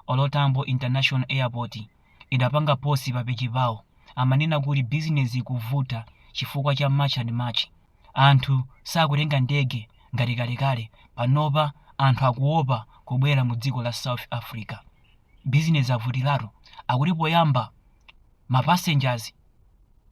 OR Tambo International Airport idapanga post pa page pawo amanena kuti business ikuvuta chifukwa cha March and March anthu sakutenga ndege ngati kalekale panopa anthu akuopa kubwera mu dziko la South Africa business avutilatu akuti poyamba Ma passengers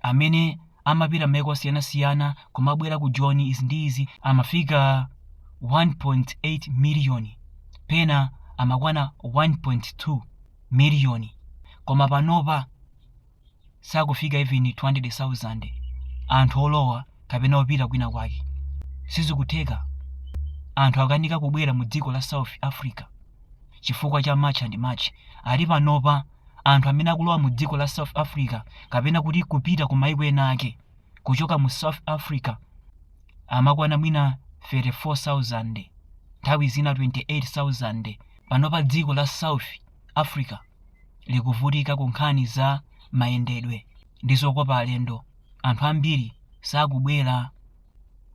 amene amapita maiko osiyanasiyana kumabwera ku Joni izi ndi izi amafika 1.8 million pena amakwana 1.2 million koma panopa sakufika even 200,000 anthu olowa kapena opita kwina kwake. Sizikutheka. Anthu akanika kubwera mu dziko la South Africa chifukwa cha March and March ali panopa anthu amene akulowa mu dziko la south africa kapena kuti kupita ku maiko ena ake kuchoka mu south africa amakwana mwina 34000 nthawi zina 28000 panopa dziko la south africa likuvutika ku nkhani za mayendedwe ndi zokopa alendo anthu ambiri sakubwera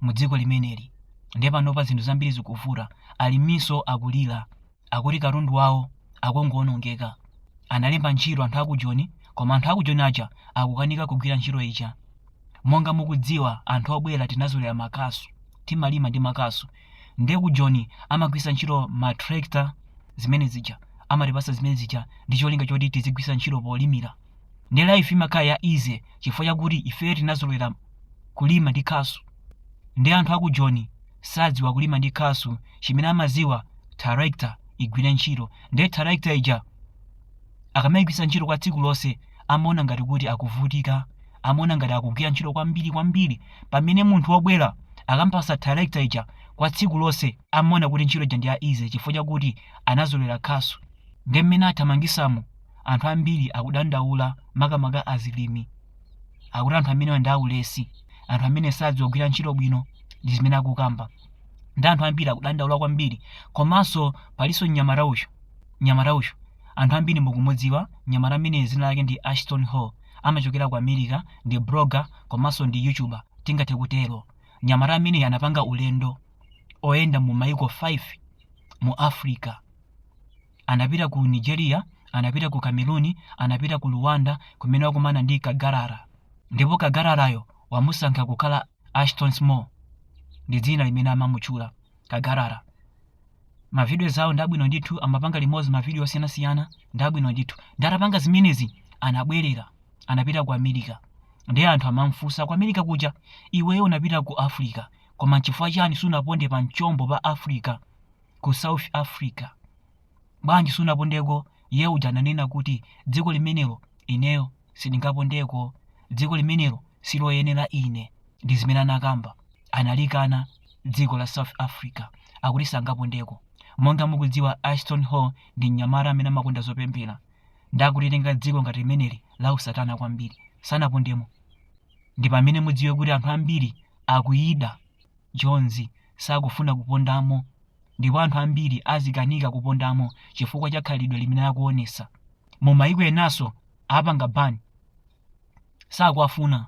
mu dziko limeneli ndiye panopa zinthu zambiri zikuvuta aliminso akulira akuti katundu wawo akungoonongeka. Analemba ntchito anthu aku Joni koma anthu aku Joni aja akukanika kugwira ntchito ija. Monga mukudziwa anthu obwera tinazolera makasu, timalima ndi makasu. Nde ku Joni amagwisa ntchito ma tractor zimene zija, amatipasa zimene zija ndi cholinga choti tizigwisa ntchito polimira. Nde life imakhala ya easy chifukwa chakuti ifeyo tinazolera kulima ndi khasu. Nde anthu aku Joni sadziwa kulima ndi khasu chimene amadziwa tractor igwire ntchito nde tractor ija akamayigwisa ntchito kwa tsiku lonse amaona ngati kuti akuvutika amaona ngati akugwira ntchito kwambiri kwambiri pamene munthu wobwera akampasa tractor ija kwa tsiku lonse amaona kuti ntchito ija ndi ya easy chifukwa chakuti anazolera khasu nde mmene athamangisamo anthu ambiri akudandaula makamaka alimi akuti anthu amenewa ndi aulesi anthu amenewa sadziwa kugwira ntchito bwino ndi zimene akukamba nde anthu ambiri akudandaula kwambiri komanso palinso mnyamata uyu mnyamata uyu anthu ambiri mukumudziwa mnyamata ameneyu dzina lake ndi ashton hall amachokera ku america ndi blogger komanso ndi youtuber tingathe kutero mnyamata ameneyu anapanga ulendo oyenda mu maiko 5 mu africa Anapita ku Nigeria, anapita ku Cameroon, anapita ku Rwanda kumene wakumana ndi Kagarara. Ndipo Kagararayo anamusintha kukhala Ashton Small. Ndi dzina limene amamutchula Kagarara. Mavidiyo awo ndi abwino ndithu, amapanga limodzi mavidiyo osiyanasiyana ndi abwino ndithu. Nde atapanga zimenezi anabwerera, anapita ku America. Ndiye anthu amamfunsa ku America kuja, iweyo unapita ku Africa, koma n'chifukwa chani sunaponde pa mchombo pa Africa? ku south africa bwanji sunapondeko iye uja ananena kuti dziko limenelo ineyo sindingapondeko dziko limenelo siloyenera ine ndi zimene anakamba analikana dziko la south africa akuti sangapondeko monga mukudziwa ashton hall ndi mnyamata amene amakonda zopemphera ndi akulitenga dziko ngati limeneli la usatana kwambiri sanapondemo ndi pamene mudziwe kuti anthu ambiri akuyida jonzi sakufuna kupondamo ndipo anthu ambiri azikanika kupondamo chifukwa cha khalidwe limene akuonesa mu maiko enanso apanga ban sakuwafuna